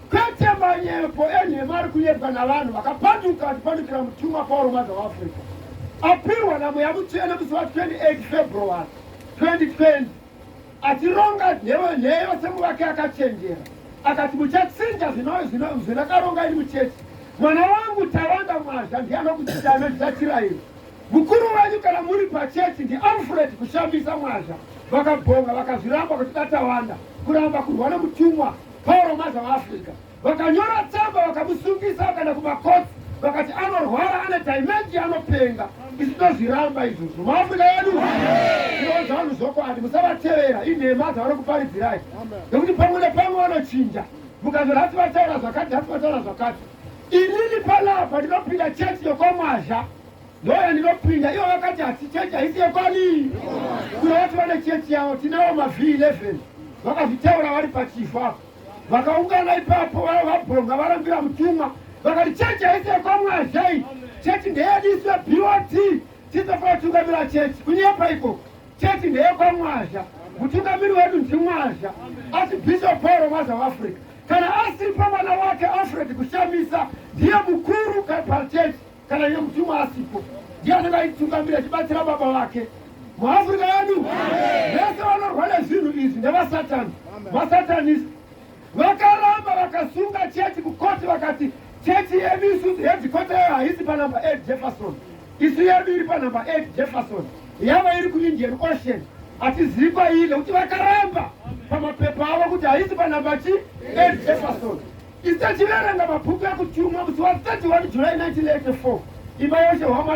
Kwete manyepo enhema ari kunyepwa navanhu vakapanduka achipandukira mutumwa Pauro Mwadza weAfrica apirwa namweya mutsvene musi wa 28 February 2020 achironga nheyo nheyo semuvake akachenjera akati muchatsinja zvinakaronga ini muchechi mwana wangu tawanda mwazha ndiye anokutsida anozvitatira iri mukuru wenyu kana muri pachechi ndialfred kushambisa mwazha vakabhonga vakazviramba kuti datawanda kuramba kurwa nemutumwa Pauro mazava Africa vakanyora tsamba vakamusungisa vakaenda kumakotsi vakati anorwara ane dimendi anopenga isu tozviramba izvozvo muafrica yedu tinoudza vanhu zvokwadi musavatevera inhema dzavari kuparidzirai nekuti pamwe nepamwe vanochinja mukazora hati vataura zvakati hati vataura zvakati inini palapa ndinopinda chechi yokwamwazha Ndouya ndinopinda ivo vakati hasi chechi haisi yekwani kuna vati vane chechi yavo tinawo mavh11 vakazvitaura vari pachifu apo vakaungana ipapo vava vabhonga varambira mutumwa vakati chechi haisi yekwamwazhai chechi ndeyediswe bot titofana kutungamira chechi kunyepa ikoko chechi ndeyekwamwazha mutungamiri wedu ndimwazha asi bishop pauro mwaza weafrica kana asiri pamwana wake alfred kushamisa ndiye mukuru pachechi Kana iye mutumwa asipo, ndiye anenge aitungamira achibatsira baba vake. MuAfrica yedu vese vanorwa nezvinhu izvi ndevasatani, masatanist. Vakaramba vakasunga chechi kukoti vakati chechi yedu isusu hedzikota yayo haisi panumber 8 Jefferson, isu yedu iri panumber 8 Jefferson, yava iri kuIndian Ocean. Hatizivi kwairi nekuti vakaramba pamapepa avo kuti haisi panumber chi 8 Jefferson. Tisachiverenga mabhuku ekutumwa kuti wasati wari July 1984 imba yose hwamwari